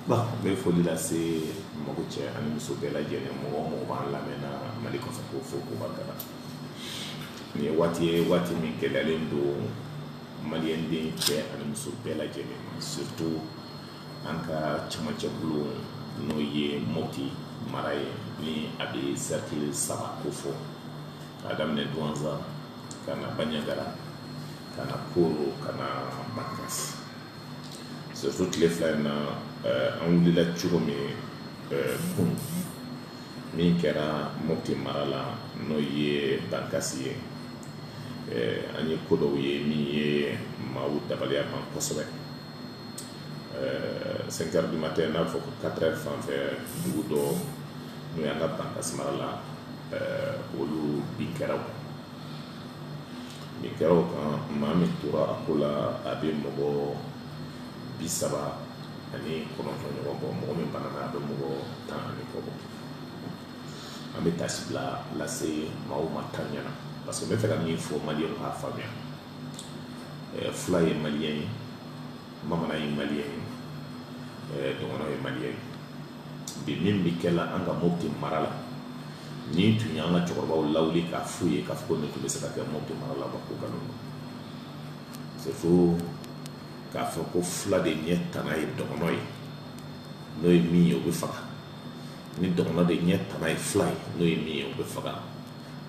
Bon n bɛ foli lase mɔgɔ cɛ ani muso bɛɛ lajɛlen mɔgɔ mɔgɔ b'an lamɛn na Mali kɔnɔ k'u fo k'u barika da nin ye waati ye waati min gɛlɛyalen don maliyɛnden cɛ ani muso bɛɛ lajɛlen ma surtout an ka cɛmancɛbolo n'o ye Mopti mara ye ni a bɛ cercle saba ko fɔ k'a daminɛ Duwanza ka na banjagara ka na koro ka na bankasi surtout tile fila in na eh, an wulila cogo min eh, kun min kɛra mopti mara la n'o ye bankasi ye eh, an ye ko dɔw ye min ye maaw dabaliya ban kosɛbɛ euh, 5 heures du matin n'a fɔ ko 4 heures fan fɛ dugu dɔ n'o y'an ka bankasi mara la euh, olu bin kɛra o bin kɛra o kan maa min tora a ko la a bɛ mɔgɔ bi saba ani kɔnɔntɔn ɲɔgɔn bɔ mɔgɔ min banana a bɛ mɔgɔ tan ani kɔ bɔ an bɛ taasibila lase maaw ma tan ɲɛna parce que n bɛ fɛ ka min fɔ maliyɛnw k'a faamuya fula ye maliyɛn ye bamanan ye maliyɛn ye dɔgɔnɔ ye maliyɛn ye bi min bɛ kɛ la an ka mopti mara la n'i tun ye an ka cɛkɔrɔbaw lawuli k'a f'u ye k'a fɔ nin tun bɛ se ka kɛ mopti mara la ko nkalon don c'est faux k'a fɔ ko fula de ɲɛ tana ye dɔgɔnɔ ye n'o ye min ye o bɛ faga ni dɔgɔnɔ de ɲɛ tana ye fula ye n'o ye min ye o bɛ faga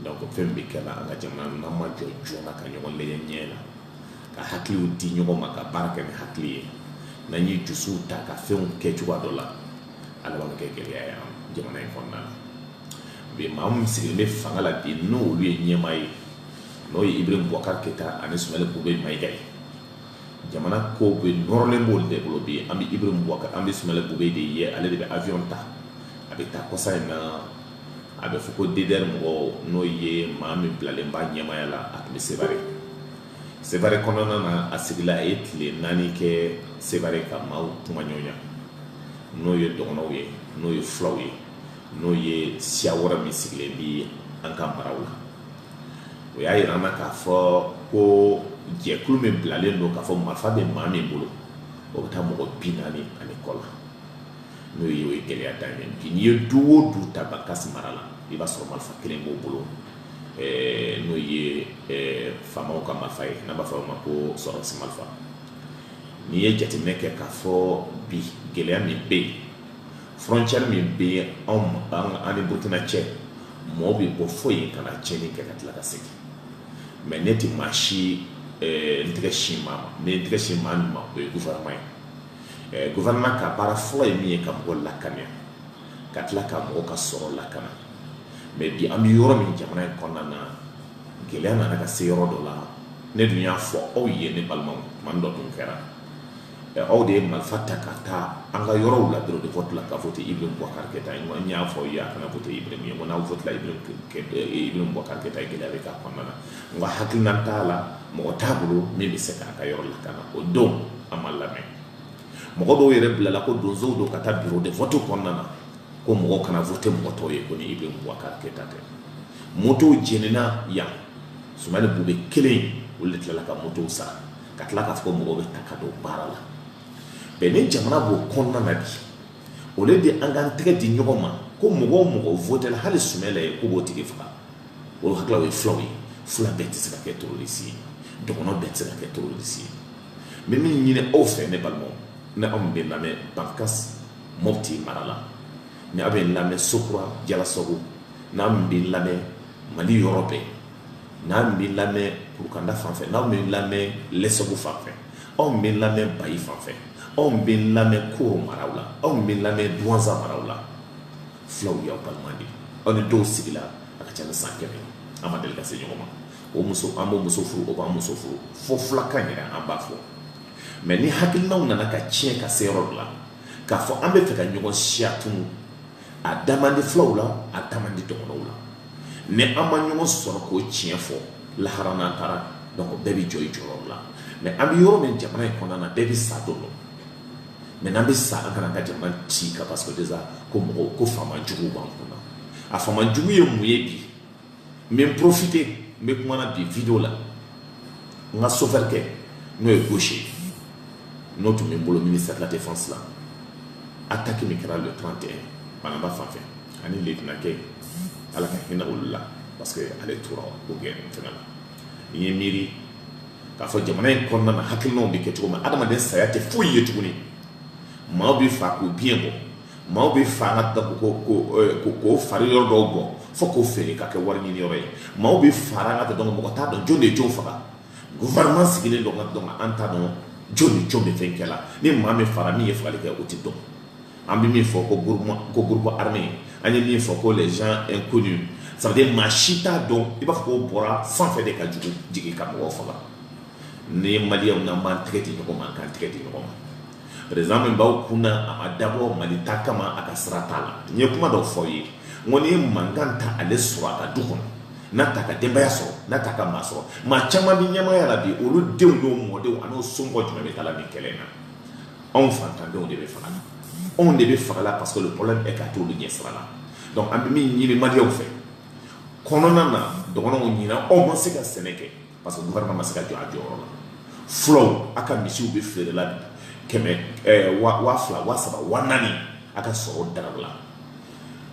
donc fɛn bɛ kɛ la an ka jamana n'an ma jɔ joona ka ɲɔgɔn lajɛ ɲɛ na ka hakiliw di ɲɔgɔn ma ka baara kɛ ni hakili ye n'an ye dusuw ta ka fɛnw kɛ cogoya dɔ la a laban bɛ kɛ gɛlɛya ye an jamana in kɔnɔna na bi maa min sigilen bɛ fanga la bi n'olu ye ɲɛmaa ye n'o ye Ibrahim Boubacar Keita ani Soumeylou Boubèye Maïga ye jamana ko bɛɛ nɔrɔlen b'olu de bolo bi an bɛ Ibrahim Boubacar an bɛ Soumeylou Boubèye de ye ale de bɛ avion ta a bɛ taa kɔsa in na a bɛ fɔ ko DDR mɔgɔw n'o ye maa min bilalen b'a ɲɛmaaya la a tun bɛ Sevare Sevare kɔnɔna na a sigila a ye tile naani kɛ Sevare ka maaw kumaɲɔgɔnya n'o ye dɔgɔnɔw ye n'o ye fulaw ye n'o ye siya wɛrɛ min sigilen bɛ an ka maraw la o y'a yira an na k'a fɔ ko jɛkulu min bilalen don k'a fɔ marifa bɛ maa min bolo o bɛ taa mɔgɔ bi naani ani kɔ la n'o ye o ye gɛlɛya dan ye n'i ye du o du ta Bankasi mara la i b'a sɔrɔ marifa kelen b'o bolo n'o ye faamaw ka marifa ye n'an b'a fɔ o ma ko sɔrɔdasi marifa n'i ye jateminɛ kɛ k'a fɔ bi gɛlɛya min bɛ yen frontière min bɛ an ni Burkina cɛ mɔgɔw bɛ bɔ fo yen ka na tiɲɛni kɛ ka tila ka segin mais ne tɛ maa si n tɛgɛ sin maa ma n tɛgɛ sin maa min ma o ye gouvernement ye Ɛɛ gouvernement ka baara fɔlɔ ye min ye ka mɔgɔ lakana, ka tila ka mɔgɔ ka sɔrɔ lakana mais bi an bɛ yɔrɔ min jamana in kɔnɔna na, gɛlɛya nana ka se yɔrɔ dɔ la, ne dun y'a fɔ aw ye ne balimaw tuma dɔ tun kɛra, ɛ aw de ye marifa ta ka taa an ka yɔrɔw la bureau de vote la ka vote Ibrahim Boubacar Keita ye, n y'a fɔ aw ye a kana vote Ibrahim ye, n ko n'aw votela Ibrahim Boubacar Keita ye gɛlɛya bɛ k'a kɔnɔna na. nka hakilina t'a la mɔgɔ t'a bolo min bɛ se k'a ka yɔrɔ lakana o don an ma lamɛn mɔgɔ dɔw yɛrɛ bilala ko donsow don ka taa bureau de vote kɔnɔna na ko mɔgɔ kana vote mɔgɔ tɔw ye ko ni Ibrahim Boubacar Keita tɛ motow jenina yan Soumeylou Boubèye kelen olu de tilala ka motow sara ka tila k'a fɔ ko mɔgɔw bɛ taa ka don baara la bɛn ni jamana b'o kɔnɔna na bi o le de an k'an tɛgɛ di ɲɔgɔn ma ko mɔgɔ o mɔgɔ votela hali Soumaïla ye k'o b'o tigi faga o hakili ye fulaw ye fula bɛɛ tɛ se ka kɛ terroriste ye dɔgɔnɔ bɛɛ tɛ se ka kɛ terroriste ye n bɛ min ɲini aw fɛ ne balimaw n'aw min bɛ lamɛn Bankas Mopti mara la ni aw bɛ lamɛn Sokura Jalasagu n'aw min bɛ lamɛn Mali yɔrɔ bɛɛ n'aw min bɛ lamɛn Kurukanda fan fɛ n'aw min bɛ lamɛn Lɛsɔgo fan fɛ aw min bɛ lamɛn Bayi fan fɛ aw min bɛ lamɛn Koro maraw la aw min bɛ lamɛn Duwanza maraw la fulaw y'aw balima de aw ni dɔw sigila a ka ca ni san kɛmɛ an ma deli ka se ɲɔgɔn ma o muso an b'o muso furu o b'an muso furu fo fulakan yɛrɛ an b'a fɔ mais ni hakilinaw nana ka tiɲɛ ka se yɔrɔ dɔ la k'a fɔ an bɛ fɛ ka ɲɔgɔn siya tunu a da man di fulaw la a da man di dɔgɔnɔw la ni an ma ɲɔgɔn sɔrɔ k'o tiɲɛ fɔ lahara n'an taara donc bɛɛ bɛ jɔ i jɔyɔrɔ la mais an bɛ yɔrɔ min jamana in kɔnɔna na bɛɛ bɛ sa don dɔ mais n'an bɛ sa an kana ka jamana ci ka parce que déjà ko mɔgɔw ko faama juguw b'an kunna a faama jugu ye mun ye bi n bɛ n profiter n bɛ kuma na bi video la n ka sofɛri kɛ n'o ye Gaucher ye n'o tun bɛ n bolo ministère de la défense la attaque min kɛra le 31 Banamba fan fɛ ani lieutenant kɛ ala ka hinɛ olu la parce que ale tora o gɛrɛ fɛnɛ la n ye miiri k'a fɔ jamana in kɔnɔna na hakilinaw bɛ kɛ cogo min adamaden saya tɛ foyi ye tuguni maaw bɛ fa k'u biɲɛ bɔ maaw bɛ fa an ka k'o fari yɔrɔ dɔw bɔ fo k'o feere ka kɛ wari ɲini yɔrɔ ye maaw bɛ faga nka a tɛ dɔn mɔgɔ t'a dɔn jɔn de jɔn faga gouvernement sigilen don nka a tɛ dɔn an t'a dɔn jɔn ni jɔn bɛ fɛn kɛ la ni maa min fara min ye fagali kɛ o tɛ dɔn An bɛ min fɔ ko groupe armé an ye min fɔ ko les gens inconnus ça veut dire maa si t'a dɔn i b'a fɔ k'o bɔra san fɛ de ka jugu jigin ka mɔgɔw faga ni ye maliyɛnw n'an b'an tɛgɛ di ɲɔgɔn ma an k'an tɛgɛ di ɲɔgɔn ma président min b'an kun na a ma dabɔ mali ta kama a ka sira t'a la n ye kuma dɔ fɔ ye n ko ni mankan t'ale sɔrɔ a ka du kɔnɔ n'a t'a ka denbaya sɔrɔ n'a t'a ka maa sɔrɔ maa caman bɛ ɲɛmaaya la bi olu denw n'o mɔdenw an'o somɔgɔ jumɛn bɛ taa nin kɛlɛ in na anw fantandenw de bɛ faga la anw de bɛ faga la parce que le problème est que a t'olu ɲɛ sira la donc an bɛ min ɲini maliyɛnw fɛ kɔnɔna na dɔgɔnɔw ɲinan aw ma se ka sɛnɛ kɛ parce que gouvernement ma se ka jɔ a jɔyɔrɔ la fulaw aw ka misiw bɛ feere la bi kɛmɛ eh, wa wa fila wa saba wa naani a ka sɔrɔ daraw la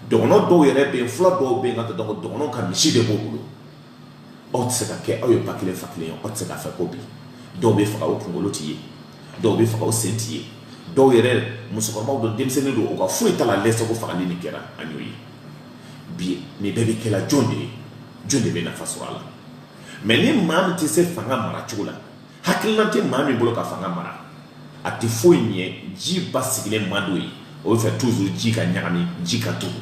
dɔgɔnɔ dɔw yɛrɛ bɛ yen fula dɔw bɛ yen ka dɔgɔnɔ ka misi de b'o bolo aw tɛ se ka kɛ aw ye ba kelen fa kelen ye aw tɛ se ka fɛ ko bi dɔw bɛ faga o kunkolo tɛ ye dɔw bɛ faga o sen tɛ ye dɔw yɛrɛ musokɔrɔbaw don denmisɛnnin don u ka foyi t'a la lɛsagu fagali nin kɛra an y'o ye bi nin bɛɛ bɛ kɛla jɔn de ye jɔn de bɛ nafa sɔrɔ a la mais ni maa min tɛ se fanga mara cogo la hakilila tɛ maa min bolo ka fanga mara a tɛ foyi ɲɛ ji basigilen man di o ye o b'a fɛ toujours ji ka ɲagami ji ka tugu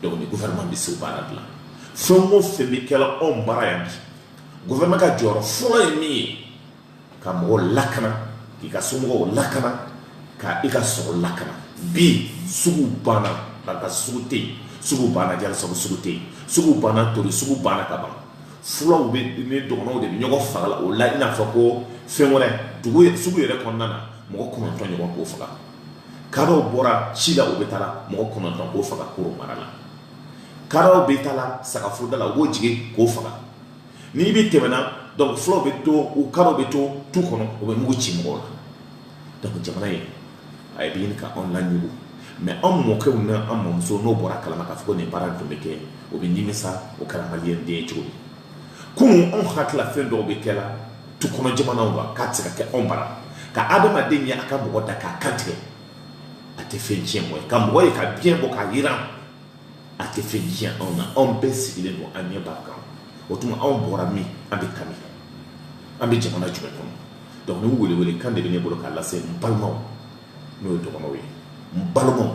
donc ni gouvernement bɛ se baara dilan fɛn o fɛn bɛ kɛla anw bara yan bi gouvernement ka jɔyɔrɔ fɔlɔ ye min ye ka mɔgɔw lakana k'i ka somɔgɔw lakana ka i ka sɔrɔ lakana bi sugu banna bankasi sugu tɛ yen sugu banna jalasagu sugu tɛ yen sugu banna tori sugu banna ka ban fulaw bɛ ni dɔgɔnɔw de bɛ ɲɔgɔn faga la o la i n'a fɔ ko fɛn wɛrɛ sugu yɛrɛ kɔnɔna na mɔgɔ kɔnɔntɔn ɲɔgɔn k'o faga kadɔw bɔra ci la u bɛ taa la mɔgɔ kɔnɔntɔn k'o faga koro mara la kadɔw bɛ taa la sagafoda la u b'o jigin k'o faga n'i bɛ tɛmɛna donc fulaw bɛ to u kadɔw bɛ to tu kɔnɔ u bɛ mugu ci mɔgɔw la Donc jamana in a ye ɲini ka anw laɲugun mais anw mɔkɛw n'an mamusow n'o bɔra kalama k'a fɔ ko nin baara tun bɛ kɛ o bɛ nimisa o kɛra maliyɛnden ye cogo min kunun anw hakilila fɛn dɔw bɛ kɛ la tu kɔnɔ jamanaw la k'a tɛ se ka kɛ anw bara ka adamaden ye a ka mɔgɔ da k'a kan tigɛ a tɛ fɛn tiɲɛ mɔgɔ ye ka mɔgɔ ye k'a biɲɛ bɔ k'a jiran a tɛ fɛn tiɲɛ anw na anw bɛɛ sigilen don an ɲɛ b'a kan o tuma anw bɔra min an bɛ taa min an bɛ jamana jumɛn kɔnɔ donc nin welewele kan de bɛ ne bolo k'a lase n balimaw n'o ye dɔgɔnɔw ye n balimaw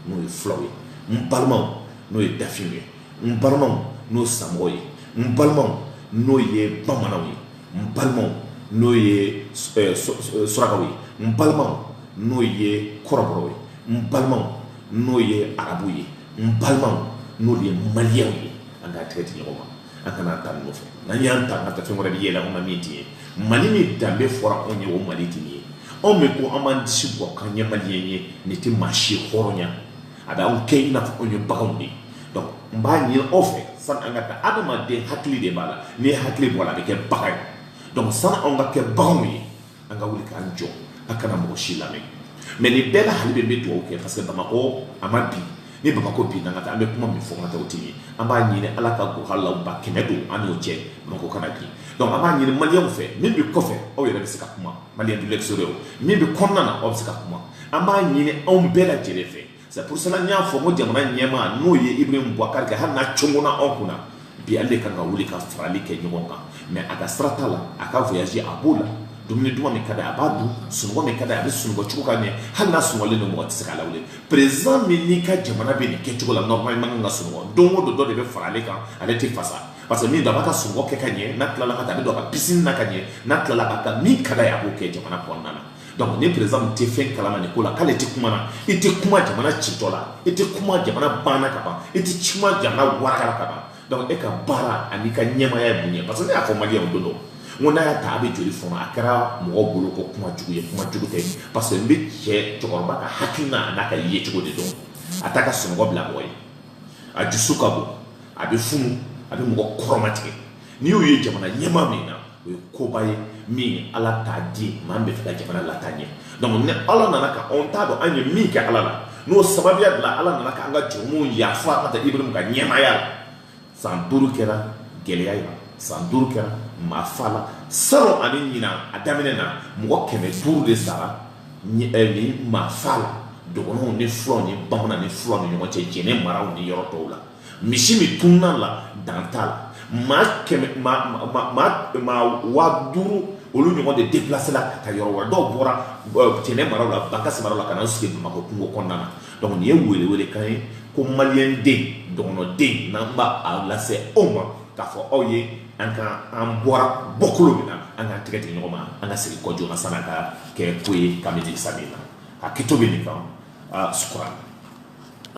n'o ye fulaw ye n balimaw n'o ye dafinw ye n balimaw n'o samɔgɔw ye n balimaw n'o ye bamananw ye n balimaw n'o ye surakaw ye n balimaw n'o ye kɔrɔbɔrɔw ye n balimaw n'o ye arabu ye n balimaw n'o ye maliyɛnw ye an ka tɛgɛ di ɲɔgɔn ma an kana ta nin nɔfɛ n'an y'an ta ka taa fɛn wɛrɛ bɛ yɛlɛ anw na min tɛ ye mali min danbe fɔra anw ye o mali tɛ nin ye anw bɛ ko an b'an disi bɔ k'an ye maliyɛn ye nin tɛ maa si hɔrɔnya a bɛ anw kɛ i n'a fɔ anw ye baganw de ye donc n b'a ɲini aw fɛ sani an ka taa adamaden hakili de b'a la n'i ye hakili bɔ a la a bɛ kɛ bagan ye donc sani anw ka kɛ baganw ye an ka wuli k'an jɔ a kana mɔgɔ si lamɛn mais nin bɛɛ la hali bi n bɛ dugawu kɛ parce que bamakɔ a ma bin ni bamakɔ binna ka taa an bɛ kuma min fɔ ka taa o tɛ ye an b'a ɲini ala ka gɔhalaba kɛmɛ don an n'o cɛ bamakɔ kana bin donc an b'a ɲini maliyɛnw fɛ min bɛ kɔfɛ aw yɛrɛ bɛ se ka kuma maliyɛn de l'extérieur min bɛ kɔnɔna na aw bɛ se ka kuma an b'a ɲini anw bɛɛ lajɛlen fɛ C'est pour cela n y'a fɔ n ko jamana ɲɛmaa n'o ye Ibrahim Boubacar kɛ hali n'a congona anw kunna bi ale de kan ka wuli ka farali kɛ ɲɔgɔn kan mais a ka sira t'a la a ka voyage a b'o la dumuni duman min ka d'a ye a b'a dun sunɔgɔ min ka d'a ye a bɛ sunɔgɔ cogo ka ɲɛ hali n'a sunɔgɔlen don mɔgɔ tɛ se k'a lawuli président min n'i ka jamana bɛ nin kɛcogo la normalement kan ka sunɔgɔ don o don dɔ de bɛ fara ale kan ale tɛ fasa parce que min don a b'a ka sunɔgɔ kɛ ka ɲɛ n'a tilala ka taa a bɛ don a ka piscine na ka ɲɛ n'a tilala ka taa min ka d'a ye a b'o kɛ jamana kɔnɔna na donc ni président tɛ fɛn kalama nin ko la k'ale tɛ kuma na i tɛ kuma jamana citɔ la i tɛ kuma jamana banna ka ban i tɛ kuma jamana warakala ka ban donc e ka baara ani ka ɲɛmaaya ye mun ye parce que ne y'a fɔ maliyɛnw don dɔ n ko n'a y'a ta a bɛ joli fɔnɔ a kɛra mɔgɔ bolo ko kuma jugu ye kuma jugu tɛ parce que n bɛ cɛ cɛkɔrɔba ka hakilina an'a ka yecogo de dɔn a t'a ka sunɔgɔ bila mɔgɔ ye a dusu ka bon a bɛ funu a bɛ mɔgɔ kɔrɔmatigɛ N'i y'o ye jamana ɲɛmaa min na o ye koba ye min ala t'a di maa min bɛ fɛ ka jamana lataa ɲɛ donc ni ala nana ka anw t'a dɔn an ye min kɛ ala la n'o sababuya bila ala nana k'an ka jurumu yafa ka ta Ibrahim ka ɲɛmaaya la san duuru kɛra gɛlɛya la san duuru kɛra maafa la salon ani ɲinan a daminɛ na mɔgɔ kɛmɛ duuru de sara nin maafa la dɔgɔnɔw ni fulaw ni bamanan ni fula ni ɲɔgɔn cɛ jɛnɛ maraw ni yɔrɔ tɔw la Misi min tununna a la dan t'a la maa kɛmɛ waa duuru olu ɲɔgɔn de de déplacé la ka taa yɔrɔ wɛrɛ dɔw bɔra jɛnɛ mara la Bankass maraw la ka na sigi bamakɔ kungo kɔnɔna na donc nin ye weele weele kan ye ko maliyɛnden dɔgɔnɔden n'an b'a lase aw ma k'a fɔ aw ye an ka an bɔra bɔkolo min na an ka tɛgɛ di ɲɔgɔn ma an ka segin kɔ joona san'a ka kɛ ko ye ka sa na a kito bɛ nin kan su